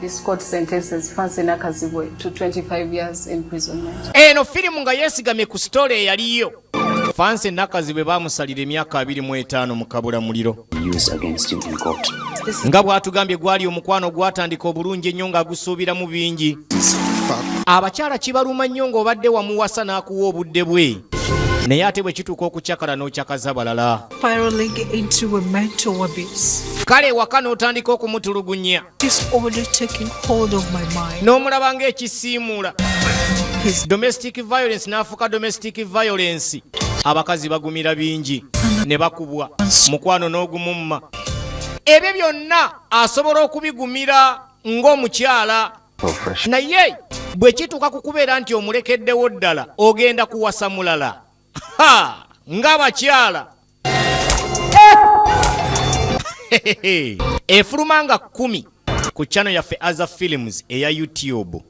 This court sentences Fancy Nakazibwe to 25 years imprisonment. Eno filimu nga yeesigamye ku sitole eyaliyo. Fancy Nakazibwe baamusalira emyaka abiri mu etaano mu kabula muliro. Nga bw'atugambye gwali omukwano gwatandika obulungi ennyo ng'agusuubiramu bingi. Abakyala kibaluma nnyo ng'obadde wamuwasa n'akuwa obudde bwe. naye ate bwe kituuka okucakala n'ocakaza balala kale ewaka n'otandika okumutulugunya n'omulaba ng'ekisiimuula domestic violence n'afuuka domestic violence abakazi bagumira bingi ne bakubwa mukwano n'ogumumma ebyo byonna asobola okubigumira ng'omukyala naye bwe kituuka ku kubeera nti omulekeddewo ddala ogenda kuwasa mulala ng'abakyala efuluma nga kumi ku chano yaffe aza films eya youtube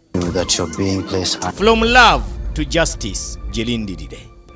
from love to justice gyelindirire